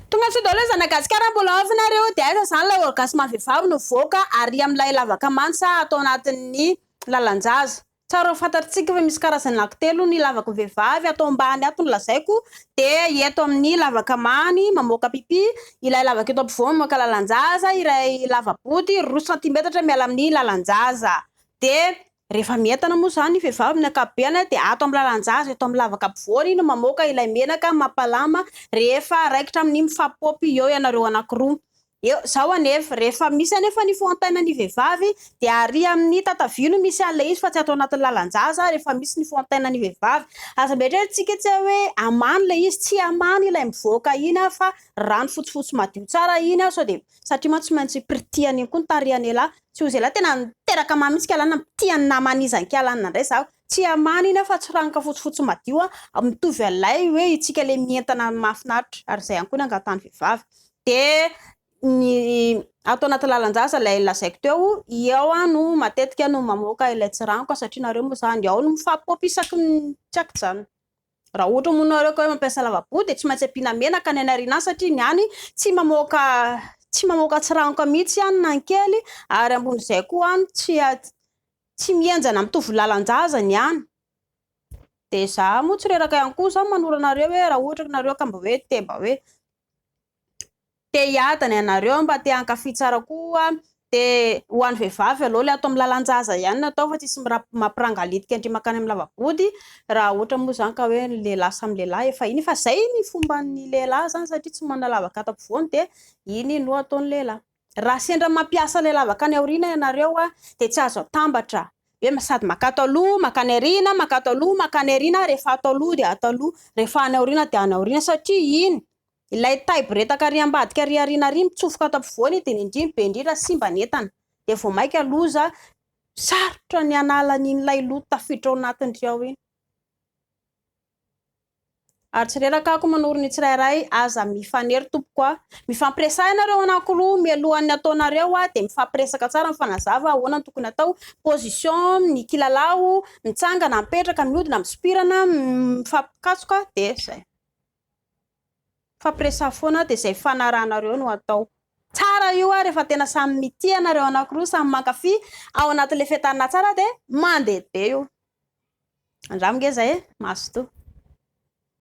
Tonga sao daholo zanaka gasikara mbola ao ve nareo de aiza zany ilay olgasy maha vehivavy nivoaka ary amin'ilay lavaka mansa ato anatin'ny lalanjaza tsara ho fantatritsika fa misy karazany anaky telo ny lavaka vehivavy ato ambany ato ny lazaiko de eto amin'ny lavaka many mamoaka pipi ilay lavaka eto ampovoany mamoaka lalanjaza iray lava-body roa santimetatra miala amin'ny lalanjaza de Rehefa mientana moa izany ny vehivavy amin'ny ankapobeny dia ato amin'ny lalan-jaza eto amin'ny lavaka ampovoany no mamoaka ilay menaka mampalama rehefa raikitra amin'ny mifampipopy eo ianareo anankiroa. Eo izao anefa, rehefa misy anefa ny fohantaina ny vehivavy dia ary amin'ny tatavia no misy an'ilay izy fa tsy ato anatin'ny lalan-jaza rehefa misy ny fohantaina ny vehivavy. Aza mba eritreretintsika etsy hoe amany ilay izy, tsy amany ilay mivoaka iny fa rano fotsifotsy madio tsara iny sao dia, satria mantsy tsy maintsy pirtihana iny koa ny tarehan'ialahy, Tsy ho zelahy tena niteraka mama izy kialana mpitia ny namany izy any kialana ndray zaho tsy hamana iny aho fa tsy ranoka fotsifotsy madio an! mitovy an'ilay hoe itsika le mientana ny mahafinaritra ary izay ihany koa ny angatahany vehivavy de ny ato anaty lalan-jaza ilay lazaiko teo i ao aho no matetika no mamoaka ilay tsy ranoka satria nareo moa zany ao no mifampipôpy isaky ny tsy an-kijanona Raha ohatra moa nareo ka hoe mampiasa lavaboho dia tsy maintsy ampiana menaka ny any aoriana satria ny any tsy mamoaka tsy mamoaka tsiranoka mihitsy any na ny kely ary ambon'izay koa any tsy tsy mihenjana mitovy lalan-jaza ny any. Dia za moa tsy reraka ihany koa za manoro anareo hoe raha ohatra nareo ka mba hoe te mba hoe te hiadana ianareo mba te hankafy tsara koa de ho an'ny vehivavy aloha le ato amin'ny lalan-jaza ihany no atao fa tsisy mampirangalitika ndry mankany amin'ny lava-body raha ohatra moa zany ka hoe ny lehilahy samy lehilahy efa iny fa zay ny fomban'ny lehilahy zany satria tsy manana lavaka ato ampovoany de iny no ataon'ny lehilahy raha sendra mampiasa ilay lavaka any aoriana ianareo a de tsy azo atambatra hoe sady makato aloha makany aoriana makato aloha makany aoriana rehefa ato aloha de ato aloha rehefa any aoriana de any aoriana satria iny Ilay taibo retaka ary ambadika ary aoriana ary mitsofoka ato ampovoany dia ny indriny be indrindra simba ny entana dia vao maika loza sarotra ny hanala ny ilay loto tafiditra ao anatiny ry ao iny ary tsy reraka ako manoro ny tsirairay aza mifanery tompoko aho mifampiresaha ianareo anankiroa mialohan'ny ataonareo aho dia mifampiresaka tsara mifanazava ahoana ny tokony atao position ny kilalao mitsangana mipetraka mihodina misompirana mifampikatsoka dia izay Fampiresahana foana dia izay fanarahanareo no atao. Tsara io ary rehefa tena samy mitia ianareo anankiroa, samy mankafy ao anatin'ilay fetanina tsara dia mandeha be io. Andramo nge izay e! Mazotoa.